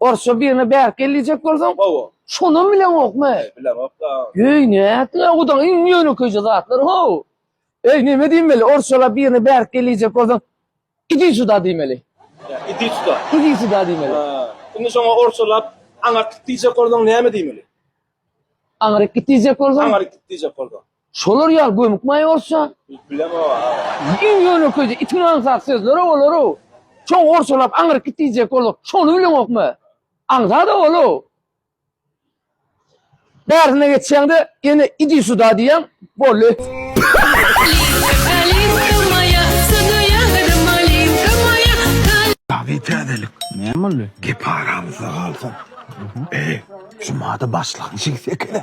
Orsça birine bärik gel diýjek bolsaň, Hawa. Şonam bileňokmy? Bileňok-da. Eý, nätdiň agudaň iň ýönekeýje zatlar, how! Eý, näme diýmeli, orsçalap birine bärik gel diýjek bolsaň, Idi suda diýmeli. Idi suda. Idi suda diýmeli. Ha. Indi şoňa orsçalap aňyrk git diýjek bolsaň näme diýmeli? Aňryk git diýjek bolsaň? Aňryk git diýjek bolsaň. Şolar ýaly gömük maýa bolsa. Bilmem o. Iň ýönekeýje itiň aňsat sözleri olar. Çoň orsalap aňyryp git diýjek bolsa, şony bileňokmy? Aňsat ol. Bärsine geçýäňde ýene idi suda diýýäň, boldy. Dabi täzelik. Näme boldy? Gep aramyzda galsyn. Eý, jumada başlangyjy ekeni.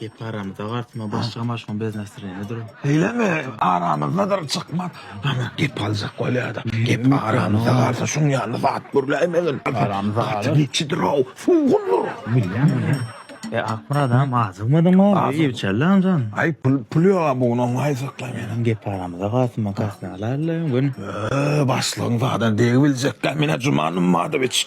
Gep aramyzda galsyn o başlyga maşgala bez nastreniýa dur. Eyleme aramyzda dur çykma. Ana gep aljak bolýada. Gep aramyzda galsa şuň ýaly zat gürläýmegin. Aramyzda galar. Gaty geçidir o. Sugundyr. Bilýän bilýän. E Akmyrat agam azygmadyň o. Azy. Ewçäli anjan. Ay pul pul ýok ha bu gün oňa aýsakla meni. Sen gep aramyzda galsyn makasny alaýla gün. Öö başlygyň zadan degi biljekkä menä Juman Ummadowiç.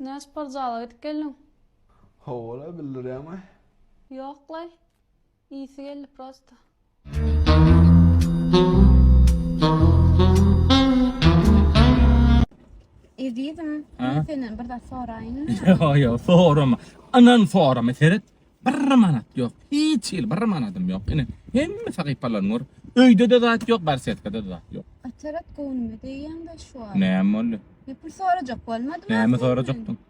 Näme sport zala gidip geldiň? Hawa-la, bildirýäňmi? Ýok-laý. Ýiti geldi prosta. Ezizim, Ha? men senden bir zat soraýyn. Ýa ýa sorama. Inan sorama seret. Bir manat ýok. Hiç hil bir manadym ýok. Ine hemme sahypalaryny gör. Öýde-de zat ýok, barsetkada-da zat ýok. Atarat göwnüme degýäň-de şu an. Näme boldy? Bir sorajak bolmadyma Näme senden? sorajakdyň?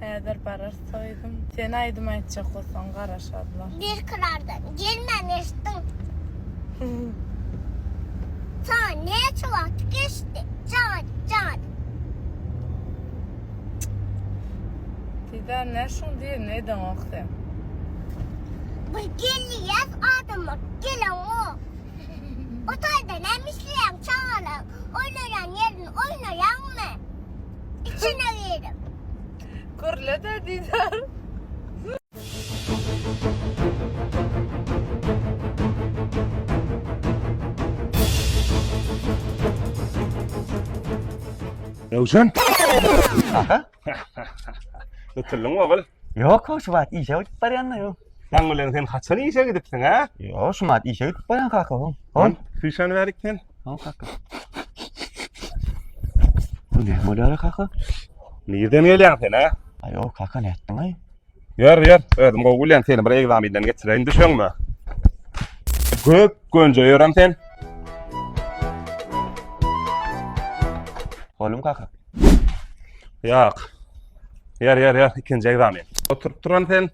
Häzir barar soýdum. Sen aýdym aýtjak bolsaň garaşarlar. Bir kırardan gelmen eşittin. Sana ne çuvat geçti? Can, can. Sizden ne şun diye ne eden ok sen? Bir geldi yaz adamı gelen o. Otelde näme işleýäň çagalar oýnaýan ýerini oýnaýaňmy? Içine girip. Gürle-de Didar. Röwşen! Aha! Tutuldyň ogul. Yok şu wagt işe gidip barýan-da ýok. Sen bilen sen haçan işe gidipsiň ha? Ýok şu wagt işe gidip barýan kaka. Hon. Hon. Süýşen berik sen. Hon kaka. Bu ne bolýar kaka? Nirden gelýäň sen ha? Aýo kaka ne etdiň aý? Ýör, ýör. Özüm gowy bilýän, seni bir egzaminden geçireýin, düşeňmi? Göp gönje ýörem sen. Bolum kaka. Ýok. Ýör, ýör, ýör. Ikinji egzamin. Oturyp turan sen.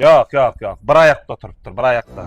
Ýok, ýok, ýok. Bir aýakda oturypdyr, bir aýakda.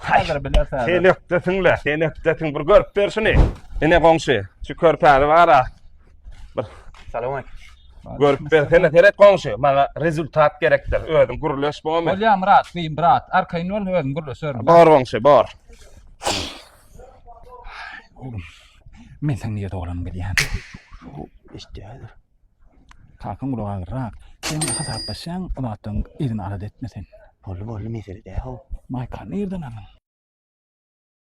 Häzir bilersen. Selekdesiňle, selekdesiň bir görüp ber şuny. Ine goňşy, şu körpäni bara. Bir Salam aleyküm. görüp bersene, seret goňşy. Maňa rezultat gerekdir. Özüň gürleş bolmy? Bolýa Murat, beýim brat. Arkaýyn bol, özüm gürleşerin. Bor goňşy, bor. Men sen niýe doglan bilýän. Eşitdi häzir. Kakam gulak agyrrak. Sen hasaplaşýan o zatdan yzyny alada etme sen. Boldy boldy mesele däl-ow. Maýkany nirden aldyň?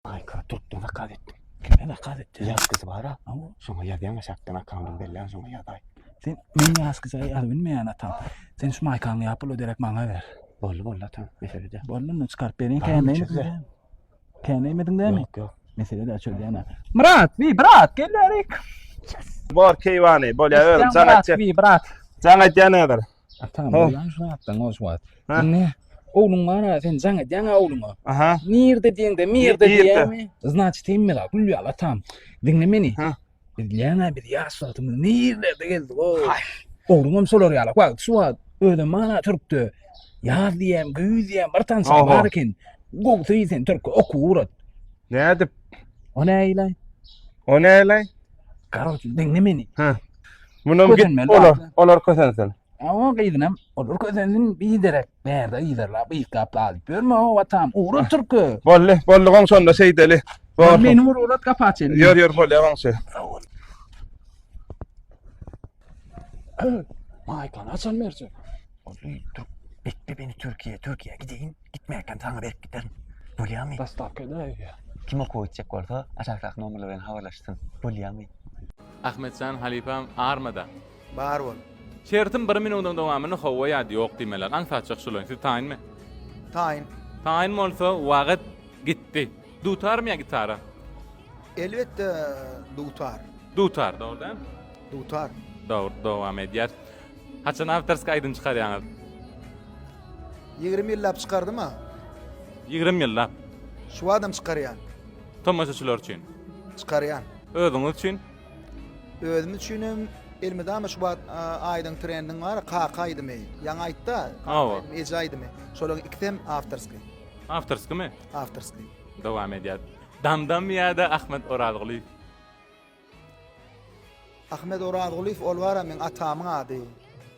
Maýka türkden zakaz etdim. Kimden zakaz etdiň? Ýazgysy bar-a. Hawa. Şoňa ýazýaň aşakdan akkaundyny belläň şoňa ýazaý. Sen men ýazgyja ýazyp bilmeýän atam. Sen şu maýkaňy ýap ol öderek maňa ber. Boldy boldy atam mesele däl. Boldy onda çykaryp beriň känleýin. Tänemedin dämi? Yok yok. Mesele de çöl dämi? Murat, bir brat, gel bärik. Bor keyvani, bolya ödüm. Sen brat, atya. bir brat. Sen atya nedir? Atam, Ho. ulan şu atdan o şu at. Ha? Ne? Oğlun var ha, sen can edyan ha oğlun o. Aha. Nirde diyen de, mirde Nirde? diyen mi? Znaçit emme la, gül yal atam. Dinle beni. Ha. Biz diýäňä biz ýaş wagtymyz nirlerde gezdik o. Ogruňam şolar ýaly. Wagt şu wagt özüm mana türkde ýaz diýen, güýz diýen bir tanşy Oho. bar eken. Gowsy sen türk okuw urat. Nädip? O näýle? O näle? Garawçy diňle meni. Munam git Kösenmeli olar. zatlary. Olar kösensin. Awa gyzynam olur közensin biderek bärde yzarlap yzgap galyp ýörme o watam ugra türkü. Bolly, bolly goň şonda şeýdeli. Bor. Meni vur urat gapa açyny. Ýör ýör bolýa goňşy. Maýkany açan berje. Bolly, Türk. Bekle beni Türkiye, Türkiye gideyim. Gitmeyken sana verip giderim. Bolýa mı? Dastavka edäýýä. Kim okuw etjek bolsa, aşakdaky nomerle bilen habarlaşsyn. Bolýa mı? Ahmetjan halypam armada. Bar bol. Şertim bir minudyň dowamyny howwa ýa-da ýok diýmeler. Aňsatjak şuly. Siz taýynmy? Taýyn. Taýyn bolsa wagyt gitdi. Dutarmy ýa gitara? Elbetde dutar. Dutar, dogry däl? Dutar. Dogry, dowam edýär. Haçan awtorska aýdym çykarýaňyz? 20 ýyllap çykardym a. 20 ýyllap. Şu adam çykarýan. Tomaşaçylar üçin. Çykarýan. Özüňiz üçin? Özüm üçin hem elmydama şu wagt aýdyň trendiň bar, kaka aýdymy. Ýaňy aýtda, kaka aýdymy, eje aýdymy. Şolaryň ikisi hem awtorskiý. Awtorskimi? Awtorskiý. Dowam edýär. Damdam ýa-da Ahmet Orazgulyýew? Ahmet Orazgulyýew ol bar, men atamyň ady.